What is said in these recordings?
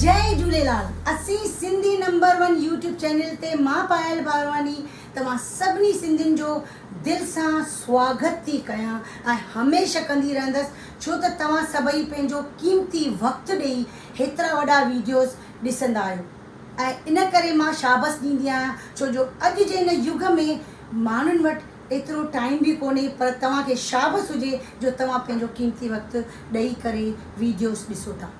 جئي جهوليلال اسين Sindhi number one YouTube channel تي مان پايل بارواڻي توهان سڀني سنڌين جو دل سان سواگت ٿي ڪيان ۽ هميشه ڪندي رهندس ڇو ته توهان سڀئي پنهنجو قيمتي وقت ڏئي هيترا وڏا ويڊيوز ڏسندا آهيو. ۽ ان ڪري مان شابس ڏيندي آهيان ڇو جو اڄ جي هن يگ ۾ ماڻهن وٽ ايترو ٽائيم به ڪونهي پر توهان کي شابس هجي جو توهان پنهنجو قيمتي وقت ڏئي ڪري ويڊيوز ڏسو ٿا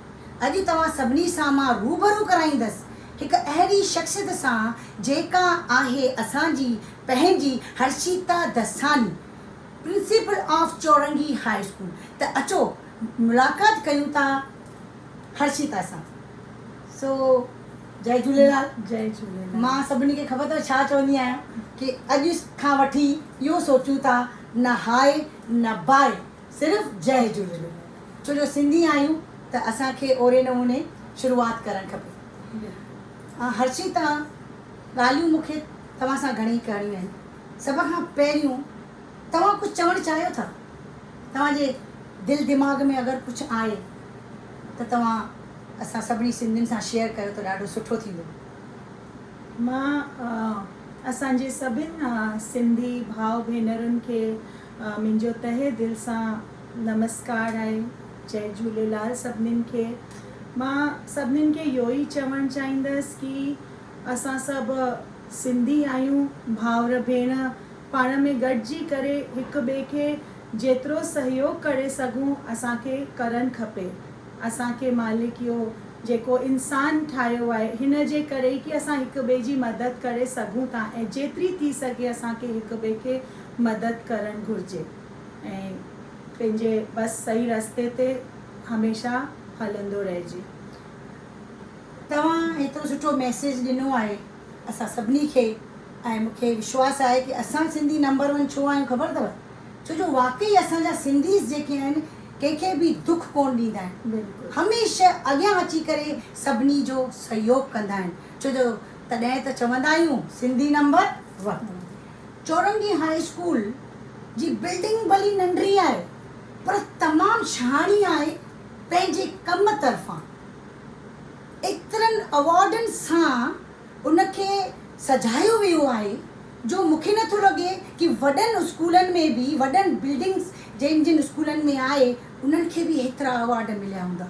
اڄ توهان سڀني سان مان روبرو ڪرائيندس هڪ اهڙي شخصيت سان جيڪا آهي اسان جي پنهنجي Harshita Dasani principal of Chorangi high school ته اچو ملاقات ڪيون ٿا. هرشيتا سان سو جئي جهوليلال جئي جهوليلال مان سڀني کي خبر ٿو ڇا چوندي آهيان ڪي اڄ کان وٺي اهو سوچون ٿا نه هائي نه بائي صرف جئي جهوليلال ڇو جو سنڌي آهيون ته اسان کي اهڙي نموني شروعات ڪرڻ کپي هرشيتا ڳالهيون مونکي توهان سان گهڻي ڪرڻيون آهن سڀ کان پهريون توهان ڪجهه چوڻ چاهيو ٿا؟ توهان جي دل دماغ ۾ اگر ڪجهه آهي ته توهان اسان سڀني سنڌين سان شيئر ڪيو ته ڏاڍو سٺو ٿيندو. مان اسان جي سڀين سنڌي ڀاء ڀينرن کي منهنجو تهه دل سان نمسڪار آهي. جئي جهوليلال سڀنين کي. مان سڀنين کي اهو ئي چوڻ چاهيندس ڪي اسان سڀ سنڌي آهيون ڀائر ڀيڻ. پاڻ ۾ گڏجي ڪري هڪ ٻئي کي جيترو سهيوگ ڪري سگهون اسان کي ڪرڻ کپي. اسان کي مالڪ اهو جيڪو انسان ٺاهيو آهي هن جي ڪري ئي ڪي اسان هڪ ٻئي جي مدد ڪري سگهون ٿا ۽ جيتري ٿي سگهي اسان کي هڪ ٻئي کي مدد ڪرڻ گهرجي ۽ پنهنجي بس صحيح رستي تي هميشه هلندو رهجي. توهان ايترو سٺو ميسيج ڏنو آهي. اسان سڀني کي ۽ مون کي وشواس آهي ڪي اسان سنڌي نمبر ون ڇو آهيون خبر اٿو ڇو جو واقعي اسان جا سنڌيز جيڪي آهن ڪنهن کي به دک ڪون ڏيندا آهن هميشه اڳيان اچي ڪري سڀني جو سهيوگ ڪندا آهن ڇو جو تڏهن ته چوندا آهيون سنڌي نمبر ون چورنگي هاء اسڪول جي بلڊنگ ڀلي ننڍڙي آهي پر تمام شهاڻي آهي پنهنجي ڪم طرفان. ايترن ايوارڊن سان ان کي سجايو ويو آهي جو مون کي نٿو لڳي ڪي وڏن اسڪولن ۾ به وڏن بلڊنگس جن جن اسڪولن ۾ آهي انهن کي به ايترا ايوارڊ مليا هوندا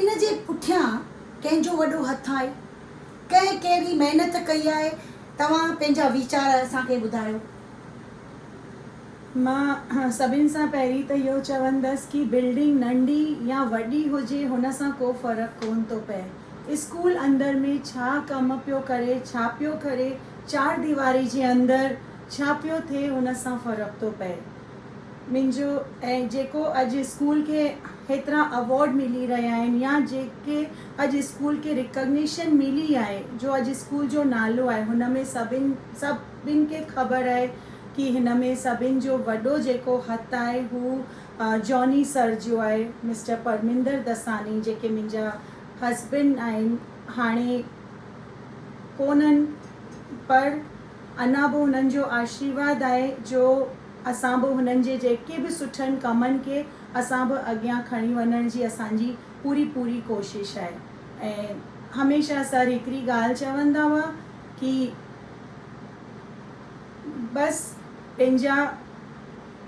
ان جي پٺيان ڪنهن جو وڏو هٿ آهي ڪنهن ڪهڙي محنت ڪئي آهي توهان پنهنجا ويچار اسان کي ٻڌايو. مان سڀن سان پهرين ته اهو چوندس ڪي بلڊنگ ننڍي يا وڏي هجي هن سان ڪو فرق ڪون ٿو پئي اسڪول اندر ۾ ڇا ڪم پيو ڪري ڇا پيو ڪري چار ديواري جي اندر ڇا پيو ٿئي هن سان فرق ٿو پئي منهنجو ۽ جيڪو اڄ اسڪول کي هيترا اوارڊ ملي رهيا آهن يا جيڪي اڄ اسڪول کي رڪگنيشن ملي آهي جو اڄ اسڪول جو نالو آهي هن ۾ سڀن سڀ سڀني کي خبر آهي ڪي هن ۾ سڀني جو وڏو جيڪو هٿ آهي هو جاني سر جو آهي مسٽر پرمندر دساني جيڪي منهنجا هسبنڊ آهن هاڻي ڪونهن پر اڃا به هنن جو آشيرواد آهي جو اسان به هنن جي جيڪي به سٺن ڪمن کي اسان به اڳيان کڻي وڃڻ جي اسان جي پوري پوري ڪوشش آهي ۽ هميشه سر هڪڙي ڳالهه چوندا هئا ڪي بس پنهنجا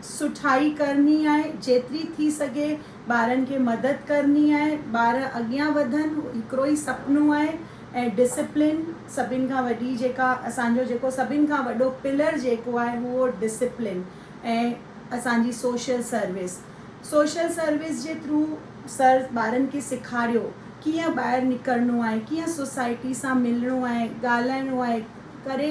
سٺائي ڪرڻي آهي جيتري ٿي سگهي ٻارن کي مدد ڪرڻي آهي ٻار اڳيان وڌن هڪڙو ئي سپنو آهي ۽ ڊسپلين سڀن کان وڏي جيڪا اسان جو جيڪو سڀن کان وڏو پلر جيڪو آهي هو ڊسپلين ۽ اسان جي سوشل سروس سوشل سروس جي ٿرو سر ٻارن کي سيکاريو ڪيئن ٻاهر نڪرڻو آهي ڪيئن سوسائٽي سان ملڻو آهي ڳالهائڻو آهي ڪري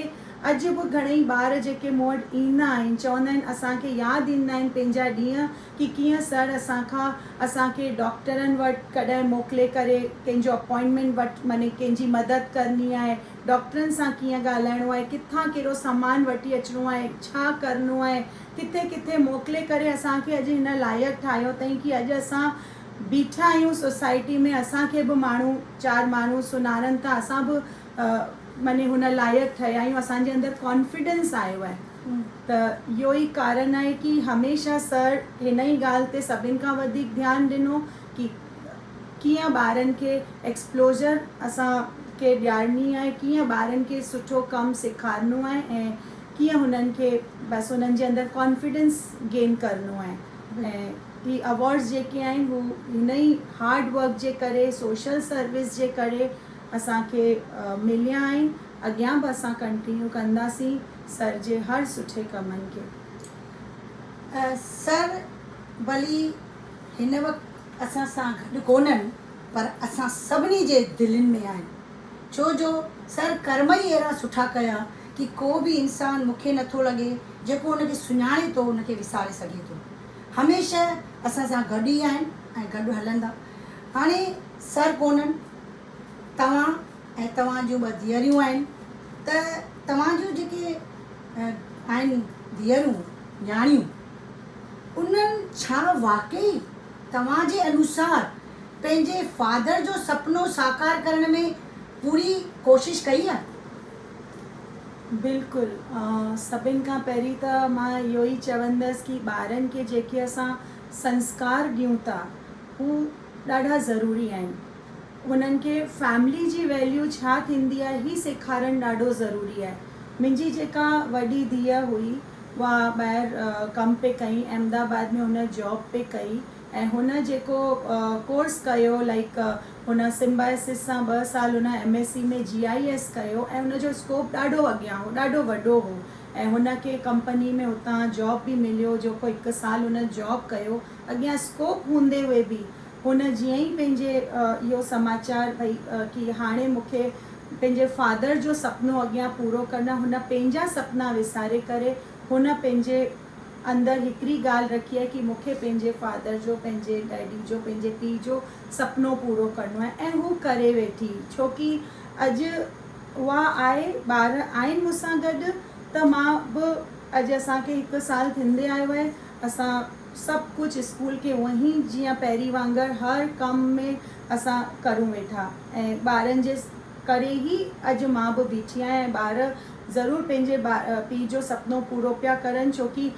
اڄ به گهڻئي ٻار جيڪي مون وٽ ايندا آهن چوندا آهن اسان کي ياد ايندا آهن پنهنجا ڏينهن ڪي ڪيئن سر اسان کان اسان کي ڊاڪٽرن وٽ ڪڏهن موڪلي ڪري ڪنهن جو اپوائنٽمينٽ وٺ مني ڪنهن جي مدد ڪرڻي آهي ڊاڪٽرن سان ڪيئن ڳالهائڻو آهي ڪٿان ڪهڙو سامان وٺي اچڻو آهي ڇا ڪرڻو آهي ڪٿي ڪٿي موڪلي ڪري اسان کي اڄ هن لائق ٺاهيو اٿئين ڪي اڄ اسان بيٺا آهيون سوسائٽي ۾ اسان کي به ماڻهو چار ماڻهو سڃاڻن ٿا اسان به مني هن لائق ٺهيا آهيون اسان جي اندر ڪانفيڊنس آيو آهي ته اهو ئي ڪارڻ آهي ڪي هميشه سر هن ئي ڳالهه تي سڀن کان وڌيڪ ڌيان ڏنو ڪي ڪيئن ٻارن کي ايڪسپلوزر اسان کي ڏيارڻي آهي ڪيئن ٻارن کي سٺو ڪم سيکارڻو آهي ۽ ڪيئن هنن کي بس انهن جي اندر ڪانفيڊنس گين ڪرڻو آهي ۽ هي اوارڊز جيڪي آهن هو هن ئي هارڊ ورڪ جي ڪري سوشل سروس جي ڪري اسان کي مليا آهن اڳيان به اسان ڪنٽينيو ڪنداسين سر جي هر سٺي ڪمن کي. سر ڀلي هن وقت اسان سان گڏ ڪونهن پر اسان سڀني جي دلين ۾ آهن. ڇو جو سر ڪرم ئي اهڙا سٺا ڪيا ڪي ڪو به انسان مون کي نٿو لڳي جيڪو ان کي سڃاڻي ٿو ان کي وساري سگهي ٿو. هميشه اسان سان گڏ ئي آهن ۽ گڏ هلندا. هاڻي سر ڪونهن توهان ۽ توهان جون ٻه ڌيئريون آهن ته توهان جون جيڪي آهن ڌيئرون نياڻيون انهن ڇا واقعي توهان جي انوسار پنهنجي فادر جو سپنو ساڪار ڪرڻ ۾ پوري ڪوشش ڪئي آهي؟ بلڪل سڀن کان پهرين ته مان اهو ئي چوندس ڪي ٻارن کي جيڪي اسان سنسڪار ڏيون ٿا هو ڏاڍا ضروري آهن هنن کي فيملي جي ويليو ڇا ٿيندي آهي هي سيکارڻ ڏاڍو ضروري آهي منهنجي جيڪا وڏي ڌيء هئي اها ٻاهر ڪم پئي ڪئي احمدآباد ۾ هن جاب پئي ڪئي ۽ هن جيڪو ڪورس ڪيو لائيڪ هن سمبائسس سان ٻه سال هن M S C ۾ G I S ڪيو ۽ هن جو اسڪوپ ڏاڍو اڳيان هو ڏاڍو وڏو هو ۽ هن کي ڪمپني ۾ هتان جاب به مليو جيڪو هڪ سال هن جاب ڪيو اڳيان اسڪوپ هوندي هئي به هن جيئن ئي پنهنجي اهو سماچار ڀئي ڪي هاڻي مون کي پنهنجي فادر جو سپنو اڳيان پورو ڪرڻ هن پنهنجا سپنا وساري ڪري هن پنهنجي اندر هڪڙي ڳالهه رکي آهي ڪي مون کي پنهنجي فادر جو پنهنجي ڊيڊي جو پنهنجي پيء جو سپنو پورو ڪرڻو آهي ۽ هو ڪري ويٺي ڇوڪي اڄ اها آهي ٻار آهن مون سان گڏ ته مان به اڄ اسان کي هڪ سال ٿيندي آيو آهي اسان سڀ ڪجهه اسڪول کي اونئن هي جيئن پهرين وانگر هر ڪم ۾ اسان ڪرون ويٺا ۽ ٻارن جي ڪري هي اڄ مان به بيٺي آهيان ۽ ٻار ضرور پنهنجي پيء جو سپنو پورو پيا ڪرن ڇوڪي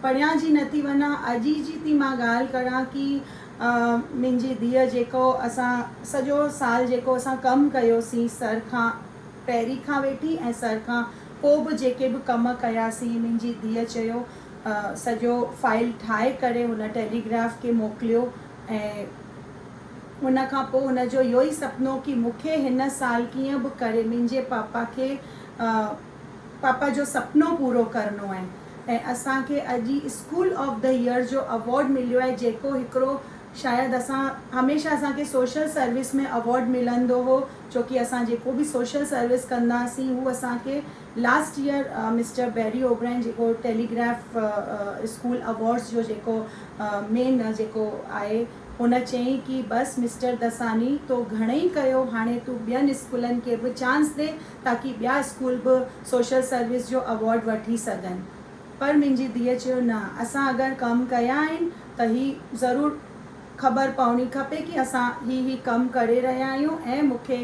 پريان جي نه ٿي وڃان اڄ ئي جي ٿي مان ڳالهه ڪران ڪي منهنجي ڌيء جيڪو اسان سڄو سال جيڪو اسان ڪم ڪيوسين سر کان پهرين کان ويٺي ۽ سر کان پوء به جيڪي به ڪم ڪياسين منهنجي ڌيء چيو سڄو فائل ٺاهي ڪري هن ٽيليگراف کي موڪليو ۽ ان کان پوء هن جو اهو ئي سپنو ڪي مون کي هن سال ڪيئن به ڪري منهنجي پاپا کي پاپا جو سپنو پورو ڪرڻو آهي ۽ اسان کي اڄ ئي اسڪول آف دي ايئر جو اوارڊ مليو آهي جيڪو هڪڙو شايد اسان هميشه اسان کي سوشل سروس ۾ اوارڊ ملندو هو ڇوڪي اسان جيڪو به سوشل سروس ڪندا هئاسين هو اسان کي last year mister Barry O'Brien جيڪو ٽيليگراف اسڪول اوارڊس جو جيڪو مين جيڪو آهي هن چيائين ڪي بس مسٽر دساني تو گهڻئي ڪيو هاڻي تون ٻين اسڪولن کي به چانس ڏي تاڪي ٻيا اسڪول به سوشل سروس جو اوارڊ وٺي سگهن پر منهنجي ڌيء چيو نه اسان اگر ڪم ڪيا آهن ته هي ضرور خبر پوڻي کپي ڪي اسان هي هي ڪم ڪري رهيا آهيون ۽ مون کي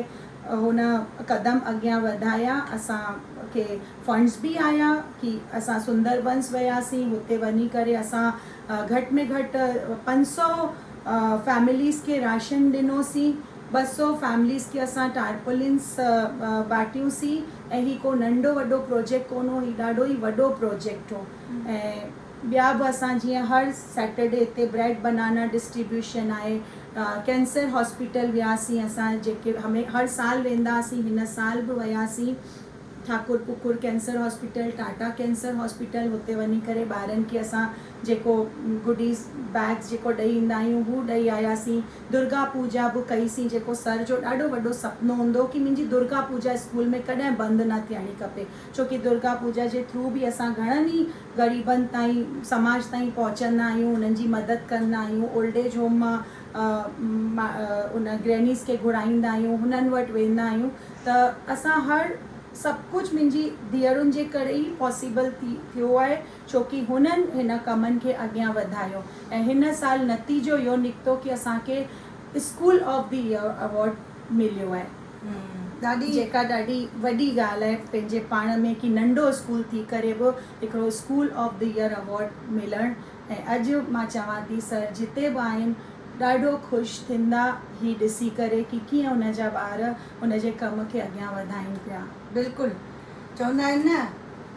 هن قدم اڳيان وڌايا اسان کي فنڊس به آيا ڪي اسان سندر بنس وياسين هتي وڃي ڪري اسان گهٽ ۾ گهٽ پنج سؤ فيمليز کي راشن ڏنوسين، ٻه سؤ فيمليز کي اسان ٽارپولينس ٻانٽيون سين ۽ هي ڪو ننڍو وڏو پروجيڪٽ ڪونه هو، هي ڏاڍو ئي وڏو پروجيڪٽ هو ۽ ٻيا به اسان جيئن هر سيٽرڊي هتي بريڊ بنانا ڊسٽريبيوشن آهي، ڪينسر هاسپيٽل وياسين اسان جيڪي هر سال ويندا هئاسين هن سال به وياسين. Thakurpukur cancer hospital, Tata cancer hospital هتي وڃي ڪري ٻارن کي اسان جيڪو گڊيز بيگز جيڪو ڏئي ايندا آهيون هو ڏئي آيا سين. درگا پوجا به ڪئي سين جيڪو سر جو ڏاڍو وڏو سپنو هوندو هو ڪي منهنجي درگا پوجا اسڪول ۾ ڪڏهن بند نه ٿيڻي کپي ڇو ڪي درگا پوجا جي ٿرو به اسان گهڻن ئي غريبن تائين سماج تائين پهچندا آهيون انهن جي مدد ڪندا آهيون اولڊ ايج هوم مان ان گرينيز کي گهرائيندا آهيون هنن وٽ ويندا آهيون ته اسان هر سڀ ڪجهه منهنجي ڌيئرن جي ڪري ئي پاسيبل ٿيو آهي ڇوڪي هنن هن ڪمن کي اڳيان وڌايو ۽ هن سال نتيجو اهو نڪتو ڪي اسان کي school of the year award مليو آهي جيڪا ڏاڍي وڏي ڳالهه آهي پنهنجي پاڻ ۾ ڪي ننڍو اسڪول ٿي ڪري به هڪڙو school of the year award ملڻ ۽ اڄ مان چوان ٿي سر جتي به آهن ڏاڍو خوش ٿيندا هي ڏسي ڪري ڪي ڪيئن ان جا ٻار ان جي ڪم کي اڳيان وڌائين پيا. بلڪل چوندا آهن نه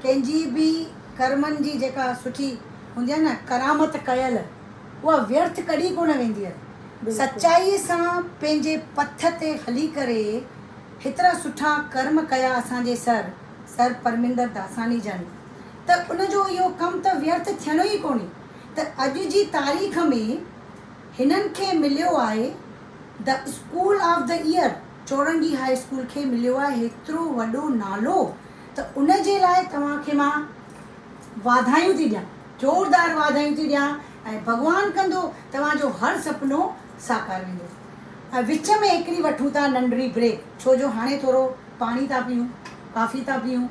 ڪنهن جي به ڪرمن جي جيڪا سٺي هوندي آهي نه ڪرامت ڪيل اها ويرٿ ڪڏهن ڪونه ويندي آهي سچائي سان پنهنجي پٿ تي هلي ڪري هيترا سٺا ڪرم ڪيا اسان جي سر سر پرمندر داساڻي جن. ته ان جو اهو ڪم ته ويرٿ ٿيڻو ئي ڪونهي ته اڄ جي تاريخ ۾ هنن کي مليو آهي The School of the Year Chorangi high school کي مليو آهي هيترو وڏو نالو ته ان جي لاء توهان کي مان واڌايون ٿي ڏيان زوردار واڌايون ٿي ڏيان ۽ ڀڳوان ڪندو توهان جو هر سپنو ساڪار ويندو ۽ وچ ۾ هڪڙي وٺون ٿا ننڍڙي بريڪ ڇو جو هاڻي ٿورو پاڻي ٿا پيئون ڪافي ٿا پيئون.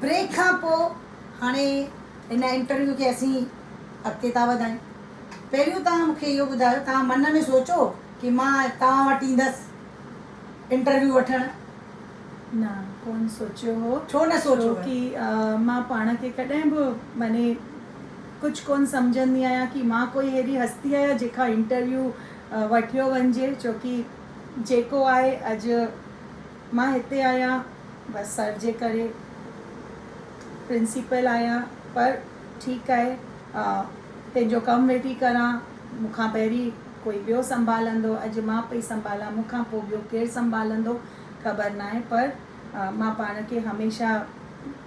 بريڪ کان پوء هاڻي هن انٽرويو کي اسين اڳتي ٿا وڌايون. پهريون توهان مون کي اهو ٻڌايو توهان من ۾ سوچو ڪي مان توهان وٽ ايندس انٽرويو وٺڻ؟ نه ڪون سوچيو هو. ڇو نه سوچيو هو؟ ڇوڪي مان پاڻ کي ڪڏهن به معني ڪجهه ڪون سمجهندي آهيان ڪي مان ڪوئي ههڙي هستي آهيان جنهن کان انٽرويو وٺيو وڃجي ڇوڪي جيڪو آهي اڄ مان هتي آهيان بس سر جي ڪري پرنسيپل آهيان پر ٺيڪ آهي پنهنجو ڪم ويٺي ڪران مون کان پهرين ڪوئي ٻيو سنڀالندو اڄ مان پئي سنڀالان مون کان پوء ٻيو ڪير سنڀالندو خبر ناهي پر مان پاڻ کي هميشه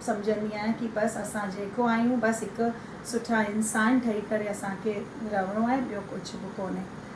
سمجهندي آهيان ڪي بس اسان جيڪو آهيون بس هڪ سٺا انسان ٺهي ڪري اسان کي رهڻو آهي ٻيو ڪجهه به ڪونهي.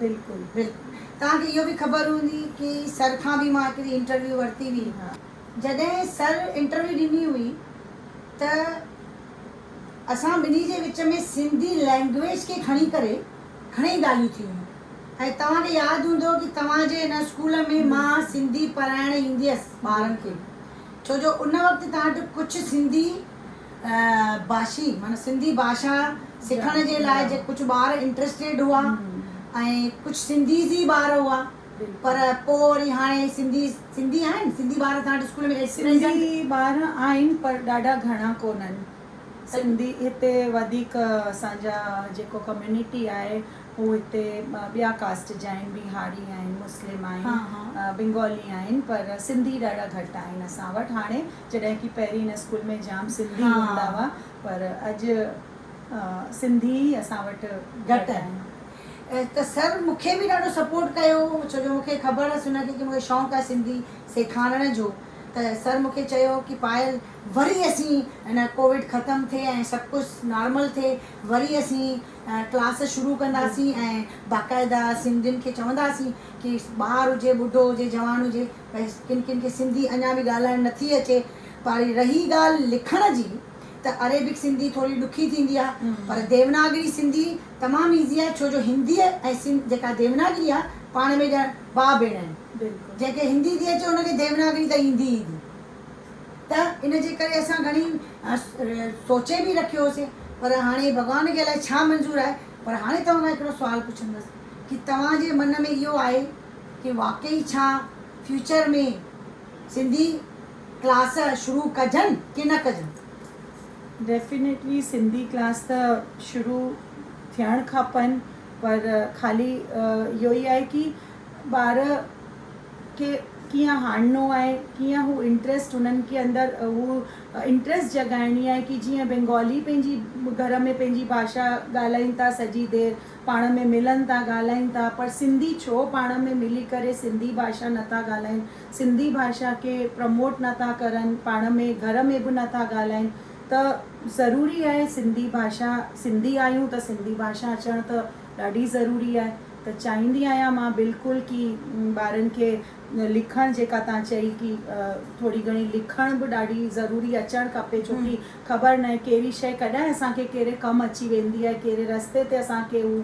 بلڪل بلڪل توهان کي اهو به خبر هوندي ڪي سر کان به مان هڪڙي انٽرويو ورتي هئي جڏهن سر انٽرويو ڏني هئي ته اسان ٻنهي جي وچ ۾ سنڌي لينگويج کي کڻي ڪري گھڻي ڳالهيون ٿي هيون ۽ توهان کي ياد هوندو ڪي توهان جي ان اسڪول ۾ مان سنڌي پڙهائڻ ايندي هيس ٻارن کي ڇو جو ان وقت توهان وٽ ڪجھ سنڌي ڀاشي معنيٰ سنڌي ڀاشا سکڻ جي لاء جي ڪجهه ٻار انٽرسٽيڊ هئا ۽ ڪجهه سنڌيز ئي ٻار هئا پر پو وري هاڻي سنڌي سنڌي آهن سنڌي ٻار تهان وٽ اسڪول ۾ ايٽ پريزنٽ. سنڌي ٻار آهن پر ڏاڍا گهڻا ڪونهن سنڌي هتي وڌيڪ اسان جا جيڪو ڪميونٽي آهي هو هتي ٻيا ڪاسٽ جا آهن بيهاري آهن مسلم آهن بنگالي آهن پر سنڌي ڏاڍا گهٽ آهن اسان وٽ هاڻي جڏهن ڪي پهرين هن اسڪول ۾ جام سنڌي هوندا هئا پر اڄ سنڌي ئي اسان وٽ گهٽ آهن. ته سر مون کي به ڏاڍو سپورٽ ڪيو ڇو جو مون کي خبر هئس هن کي ڪي مون کي شونق آهي سنڌي سيکارڻ جو ته سر مون کي چيو ڪي پايل وري اسين هن ڪووڊ ختم ٿئي ۽ سڀ ڪجھ نارمل ٿئي وري اسين ڪلاس شروع ڪنداسين ۽ باقاعده سنڌين کي چونداسين ڪي ٻار هجي ٻڍو هجي جوان هجي ڀئي ڪن ڪن کي سنڌي اڃا به ڳالهائڻ نه ٿي اچي پاري رهي ڳالهه لکڻ جي ته عريبڪ سنڌي ٿوري ڏکي ٿيندي آهي پر ديوناگري سنڌي تمام ايزي آهي ڇو جو هندي ۽ سنڌ جيڪا ديوناگري آهي پاڻ ۾ ڄڻ ڀاء ڀيڻ آهن جنهن کي هندي ٿي اچي ان کي ديوناگري ته ايندي ئي ايندي ته ان جي ڪري اسان گهڻي سوچي به رکيو هوسين پر هاڻي ڀڳوان کي الائي ڇا منظور آهي پر هاڻي توهان کان هڪڙو سوال پڇندس ڪي توهان جي من ۾ اهو آهي ڪي واقعي ڇا فيوچر ۾ سنڌي ڪلاس شروع ڪجن ڪي نه ڪجن. ڊيفينيٽلي سنڌي ڪلاس ته شروع ٿيڻ کپن پر خالي اهو ئي آهي ڪي ٻار کي ڪيئن آڻڻو آهي ڪيئن هو انٽريسٽ هنن کي اندر هو انٽريسٽ جڳائڻي آهي ڪي جيئن بينگالي پنهنجي گهر ۾ پنهنجي ڀاشا ڳالهائين ٿا سڄي دير پاڻ ۾ ملن ٿا ڳالهائين ٿا پر سنڌي ڇو پاڻ ۾ ملي ڪري سنڌي ڀاشا نه ٿا ڳالهائين سنڌي ڀاشا کي پرموٽ نه ٿا ڪرن پاڻ ۾ گهر ۾ به نه ٿا ڳالهائين ته ضروري آهي سنڌي ڀاشا سنڌي آهيون ته سنڌي ڀاشا اچڻ ته ڏاڍي ضروري آهي ته چاهيندي آهيان مان بلڪل ڪي ٻارن کي لکڻ جيڪا تان چئي ڪي ٿوري گهڻي لکڻ به ڏاڍي ضروري اچڻ کپي ڇو ڪي خبر ناهي ڪهڙي شيء ڪڏهن اسان کي ڪهڙي ڪم اچي ويندي آهي ڪهڙي رستي تي اسان کي هو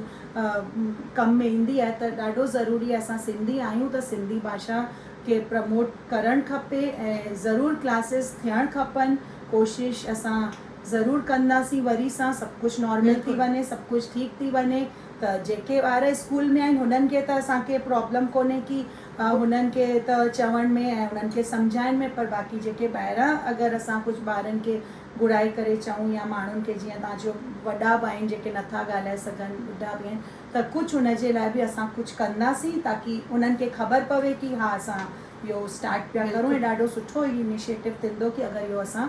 ڪم ۾ ايندي آهي ته ڏاڍو ضروري آهي اسان سنڌي آهيون ته سنڌي ڀاشا کي پرموٽ ڪرڻ کپي ۽ ضرور ڪلاسز ٿيڻ کپن ڪوشش اسان ضرور ڪنداسين وري سان سڀ ڪجهه نارمل ٿي وڃي سڀ ڪجهه ٺيڪ ٿي وڃي ته جيڪي ٻار اسڪول ۾ آهن هنن کي ته اسان کي پرابلم ڪونهي ڪي انهن کي ته چوڻ ۾ ۽ انهن کي سمجهائڻ ۾ پر باقي جيڪي ٻاهران اگر اسان ڪجهه ٻارن کي گهرائي ڪري چئون يا ماڻهن کي جيئن تان جو وڏا به آهن جيڪي نٿا ڳالهائي سگهن ٻڍا به آهن ته ڪجهه ان جي لاء به اسان ڪجهه ڪنداسين تاڪي انهن کي خبر پوي ڪي ها اسان اهو اسٽارٽ پيا ڪرون ۽ ڏاڍو سٺو انيشيٽو ٿيندو ڪي اگر اهو اسان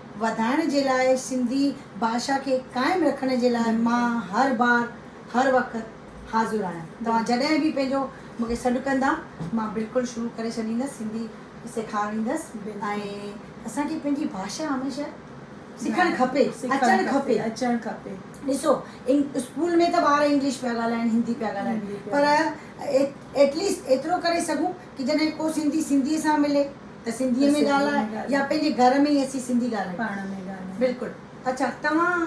وڌائڻ جي لاء سنڌي ڀاشا کي قائم رکڻ جي لاء مان هر بار هر وقت حاضر آهيان توهان جڏهن به پنهنجو مون کي سڏ ڪندا مان بلڪل شروع ڪري ڇڏيندس سنڌي سيکاريندس ۽ اسان کي پنهنجي ڀاشا هميشه سکڻ کپي اچڻ کپي اچڻ کپي ڏسو اسڪول ۾ ته ٻار انگلش پيا ڳالهائين هندي پيا ڳالهائين پر ايٽليسٽ ايترو ڪري سگهون ڪي جڏهن ڪو سنڌي سنڌيء سان ملي ته سنڌيء ۾ ڳالهائي يا پنهنجي گهر ۾ ئي اسين سنڌي ڳالهايون. پاڻ ۾ ڳالهايون. بلڪل. اڇا توهان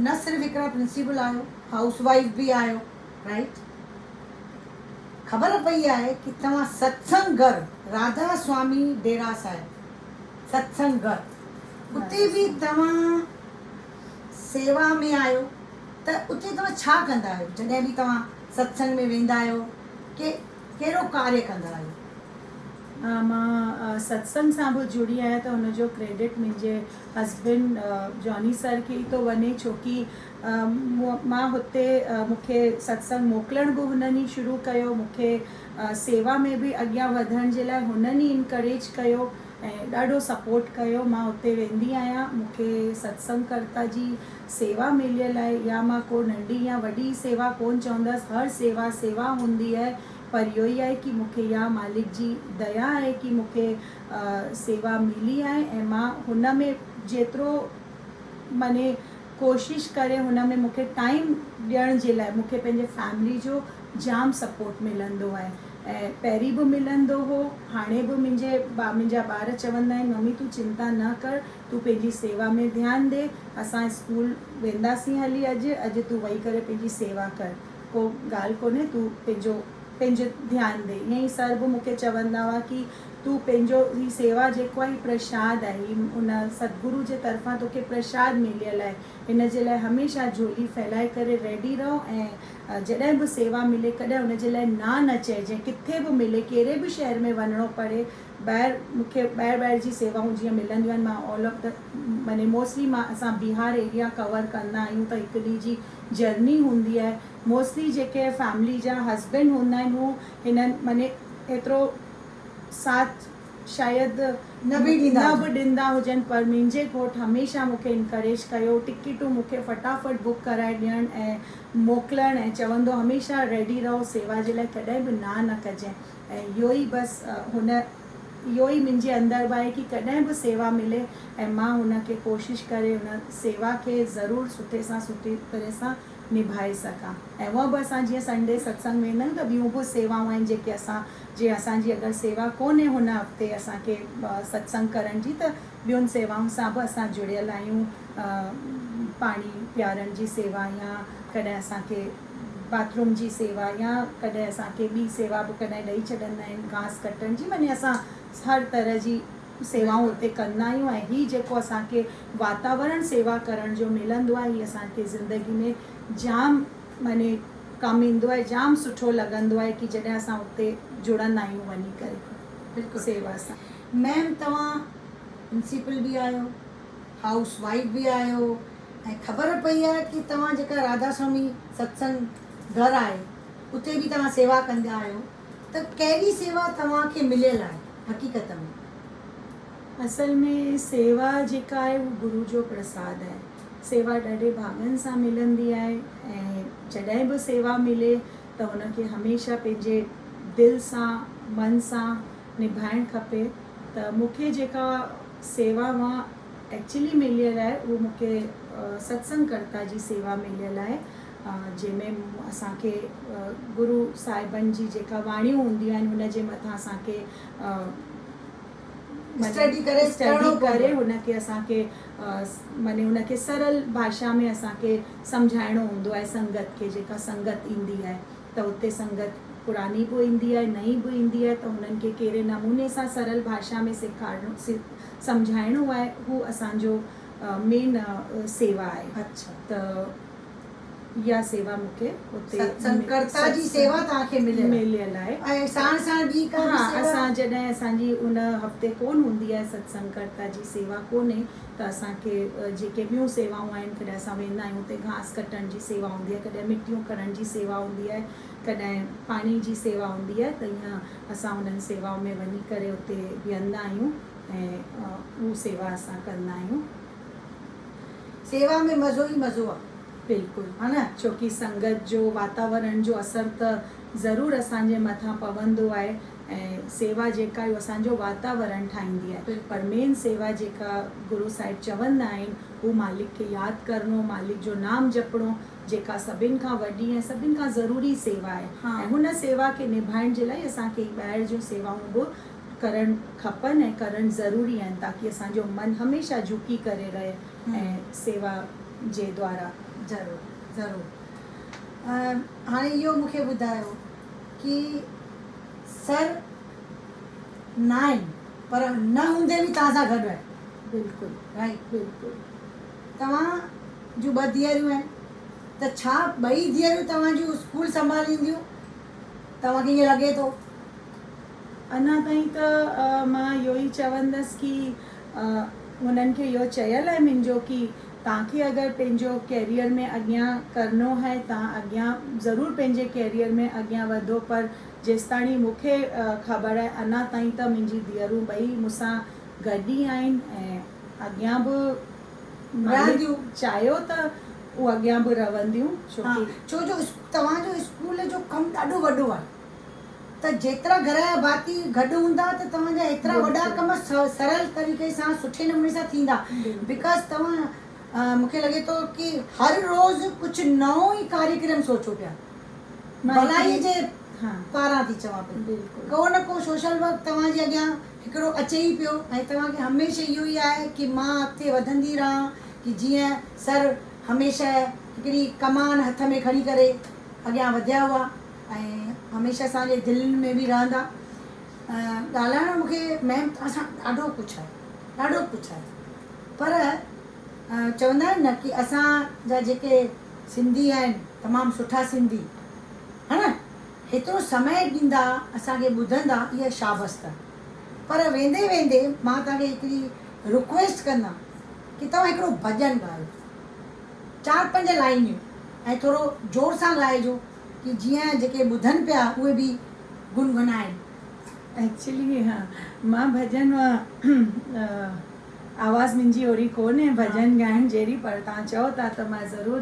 نه صرف هڪڙا پرنسيپل آهيو هائوس وائيف به آهيو رائيٽ. خبر پئي آهي ڪي توهان ستسنگ گهر راڌا سوامي ڊيرا صاحب ستسنگ گهر اتي به توهان سيوا ۾ آهيو ته اتي توهان ڇا ڪندا آهيو جڏهن به توهان ستسنگ ۾ ويندا آهيو ڪي ڪهڙو ڪاري ڪندا آهيو. ها مان ستسنگ سان به جڙي آهيان ته ان جو ڪريڊٽ منهنجي هسبنڊ جاني سر کي ئي ٿو وڃي ڇوڪي مان هتي مون کي ستسنگ موڪلڻ به هنن ئي شروع ڪيو مون کي سيوا ۾ به اڳيان وڌڻ جي لاء هنن ئي انڪريج ڪيو ۽ ڏاڍو سپورٽ ڪيو مان اتي ويندي آهيان مون کي ستسنگ ڪرتا جي سيوا مليل آهي يا مان ڪو ننڍي يا وڏي سيوا ڪون چوندس هر سيوا سيوا هوندي آهي پر اهو ئي آهي ڪي مون کي يا مالڪ جي ديا آهي ڪي مون کي سيوا ملي آهي ۽ مان هن ۾ جيترو مني ڪوشش ڪري هن ۾ مون کي ٽائيم ڏيڻ جي لاء مون کي پنهنجي فيملي جو جام سپورٽ ملندو آهي. ۽ پهرين به ملندو هو، هاڻي به منهنجي منهنجا ٻار چوندا آهن ممي تون چنتا نه ڪر، تون پنهنجي سيوا ۾ ڌيان ڏي، اسان اسڪول وينداسين هلي اڄ، اڄ تون ويهي ڪري پنهنجي سيوا ڪر، ڪو ڳالهه ڪونهي تون پنهنجو پنهنجو ڌيان ڏي، ائين ئي سر به مونکي چوندا هئا ڪي تون پنهنجو هي سيوا جيڪو آهي هي پرشاد آهي، هي ان ستگرو جي طرفان توکي پرشاد مليل آهي، هن جي لاء هميشه جهولي ڦهلائي ڪري ريڊي رهو ۽ جڏهن به سيوا ملي ڪڏهن ان جي لاء نا نه چئجي ڪٿي به ملي ڪهڙي به شهر ۾ وڃڻو پڙي ٻاهر مون کي ٻاهر ٻاهر جي سيوائون جيئن ملنديون آهن مان آل آف مني موسٽلي مان اسان بهار ايريا ڪور ڪندا آهيون ته هڪ ڏينهن جي جرني هوندي آهي موسٽلي جيڪي فيملي جا هسبينڊ هوندا آهن هو هنن مني ايترو ساٿ شايد نه به ڏيندا هجن پر منهنجي گهوٽ هميشه مون کي انڪريج ڪيو، ٽڪيٽون مون کي فٽافٽ بڪ ڪرائي ڏيڻ ۽ موڪلڻ ۽ چوندو هميشه ريڊي رهو سيوا جي لاء ڪڏهن به نا نه ڪجين ۽ اهو ئي بس هن اهو ئي منهنجي اندر به آهي ڪي ڪڏهن به سيوا ملي ۽ مان هن کي ڪوشش ڪري هن سيوا کي ضرور سٺي سان سٺي طرح سان نڀائي سگهان ۽ هونء به اسان جيئن سنڊي ستسنگ ويندا آهيون ته ٻيون به سيوائون آهن جيڪي اسان جي اسان جي اگر سيوا ڪونهي هن هفتي اسان کي ستسنگ ڪرڻ جي ته ٻين سيوائن سان به اسان جڙيل آهيون پاڻي پيارڻ جي سيوا يا ڪڏهن اسان کي باٿروم جي سيوا يا ڪڏهن اسان کي ٻي سيوا به ڪڏهن ڏئي ڇڏندا آهن گهاس ڪٽڻ جي معني اسان هر طرح جي سيوائون اتي ڪندا آهيون ۽ هي جيڪو اسان کي واتاورڻ سيوا ڪرڻ جو ملندو آهي هي اسان کي زندگي ۾ جام مني ڪم ايندو آهي جام سٺو لڳندو آهي ڪي جڏهن اسان اتي جڙندا آهيون وڃي ڪري بلڪل سيوا سان. ميم توهان پرنسيپل به آهيو هائوس وائيف به آهيو ۽ خبر پئي آهي ڪي توهان جيڪا راڌا سوامي ستسنگ گهر آهي اتي به توهان سيوا ڪندا آهيو ته ڪهڙي سيوا توهان کي مليل آهي حقيقت ۾؟ اصل ۾ سيوا جيڪا آهي اهو گرو جو پرساد آهي. سيوا ڏاڍي ڀاڱن سان ملندي آهي ۽ جڏهن به سيوا ملي ته ان کي هميشه پنهنجي دل سان من سان نڀائڻ کپي ته مون کي جيڪا سيوا اها ايڪچلي مليل آهي اهو مون کي ستسنگ ڪرتا جي سيوا مليل آهي جنهن ۾ اسان کي گرو صاحبن جي جيڪا واڻيون هونديون آهن ان جي مٿان اسان کي اسٽڊي ڪري اسٽڊي ڪري هن کي اسان کي مني هن کي سرل ڀاشا ۾ اسان کي سمجهائڻو هوندو آهي سنگت کي جيڪا سنگت ايندي آهي ته اتي سنگت پراڻي به ايندي آهي نئين به ايندي آهي ته هنن کي ڪهڙي نموني سان سرل ڀاشا ۾ سيکارڻو سمجهائڻو آهي هو اسان جو مين سيوا آهي اڇا ته اها سيوا مون کي اتي ستسنگ ڪرتا جي سيوا توهان کي مليل آهي مليل آهي ۽ ساڻ ساڻ ٻي ڪا به سيوا ها اسان جڏهن اسان جي ان هفتي ڪون هوندي آهي ستسنگ ڪرتا جي سيوا ڪونهي ته اسان کي جيڪي ٻيون سيوائون آهن ڪڏهن اسان ويندا آهيون اتي گهاس ڪٽڻ جي سيوا هوندي آهي ڪڏهن مٽيون کڻڻ جي سيوا هوندي آهي ڪڏهن پاڻي جي سيوا هوندي آهي ته ايئن اسان انهن سيوائن ۾ وڃي ڪري اتي ويهندا آهيون ۽ اهو سيوا اسان ڪندا آهيون. سيوا ۾ مزو ئي مزو آ. بلڪل ها نه ڇوڪي سنگت جو واتاورڻ جو اثر ته ضرور اسان جي مٿان پوندو آهي ۽ سيوا جيڪا اهو اسان جو واتاورڻ ٺاهيندي آهي پر مين سيوا جيڪا گرو صاحب چوندا آهن هو مالڪ کي ياد ڪرڻو مالڪ جو نام جپڻو جيڪا سڀن کان وڏي ۽ سڀن کان ضروري سيوا آهي ۽ هن سيوا کي نڀائڻ جي لاء اسان کي هي ٻاهر جون سيوائون به ڪرڻ کپن ۽ ڪرڻ ضروري آهن تاڪي اسان جو من هميشه جهڪي ڪري رهي ۽ سيوا جي دوارا. ضرور ضرور هاڻي اهو مون کي ٻڌايو ڪي سر ناهن پر نه هوندي به توهان سان گڏ آهن. بلڪل رائيٽ بلڪل توهان جون ٻه ڌيئريون آهن ته ڇا ٻئي ڌيئريون توهان جون اسڪول سنڀالينديون؟ توهان کي ائين لڳي ٿو؟ اڃا تائين ته مان اهو ئي چوندس ڪي هنن کي اهو چيل آهي منهنجو ڪي توهان کي اگر پنهنجو ڪيريئر ۾ اڳيان ڪرڻو آهي توهان اڳيان ضرور پنهنجي ڪيريئر ۾ اڳيان وڌو پر جيستاڻي مون کي خبر آهي اڃا تائين ته منهنجي ڌيئرون ٻئي مون سان گڏ ئي آهن ۽ اڳيان به رهنديون. چاهيو ته هو اڳيان به رهنديون ڇوڪي. ڇو جو توهان جو اسڪول جو ڪم ڏاڍو وڏو آهي ته جيترا گهر جا ڀاتي گڏ هوندا ته توهان جا هيترا وڏا ڪم سرل طريقي سان سٺي نموني سان ٿيندا بڪاز توهان مون کي لڳي ٿو ڪي هر روز ڪجهه نئون ئي ڪاريڪرم سوچو پيا ڀلائي جي پاران ٿي چوان پئي ڪو نه ڪو سوشل ورڪ توهان جي اڳيان هڪڙو اچي ئي پيو ۽ توهان کي هميشه اهو ئي آهي ڪي مان اڳتي وڌندي رهان ڪي جيئن سر هميشه هڪڙي ڪمان هٿ ۾ کڻي ڪري اڳيان وڌيا هئا ۽ هميشه اسان جي دلين ۾ به رهندا. ڳالهائڻ جو مونکي ميم توهان سان ڏاڍو ڪجهه آهي ڏاڍو ڪجهه آهي پر چوندا آهن نه ڪي اسان جا جيڪي سنڌي آهن تمام سٺا سنڌي هان نه. هيترو سمي ڏيندا اسان کي ٻڌندا اها شابست پر ويندي ويندي مان توهان کي هڪڙي رڪويسٽ ڪندان ڪي توهان هڪڙو ڀڄن ڳايو چار پنج لائنيون ۽ ٿورو زور سان ڳائجو ڪي جيئن جيڪي ٻڌن پيا اهي به گنگنائن. ايڪچلي مان ڀڄن آواز منهنجي اهڙي ڪونهي ڀڄن ڳائڻ جهڙي پر توهان چئو ٿا ته مان ضرور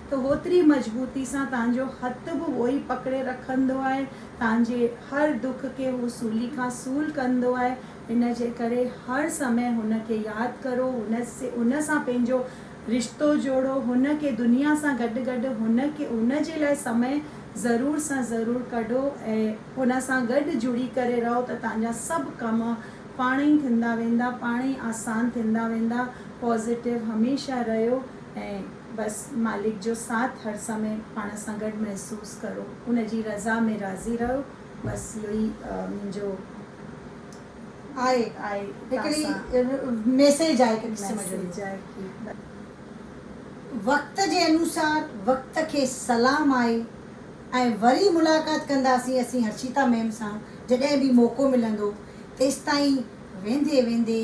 ته هوتري مضبوطي سان تنهنجو هٿ به اهوئي پڪڙي رکندو آهي، تنهنجي هر دک کي هو سولي کان سول ڪندو آهي، ان جي ڪري هر سمي هن کي ياد ڪرو، هن سان پنهنجو رشتو جوڙو، هن کي دنيا سان گڏ گڏ هن کي هن جي لاء سمي ضرور سان ضرور ڪڍو ۽ هن سان گڏ جڙي ڪري رهو ته تنهنجا سڀ ڪم پاڻ ئي ٿيندا ويندا، پاڻ ئي آسان ٿيندا ويندا، پازيٽو هميشه رهيو ۽. بس مالڪ جو ساٿ هر سمي پاڻ سان گڏ محسوس ڪرو ان جي رضا ۾ راضي رهو بس اهو ئي منهنجو آء آء هڪڙي ميسيج آء ڪي قسم جو ميسيج آء ڪي بس وقت جي انوسار وقت کي سلام آء ۽ وري ملاقات ڪنداسين اسين هرشيتا ميم سان جڏهن به موقعو ملندو تيستائين ويندي ويندي.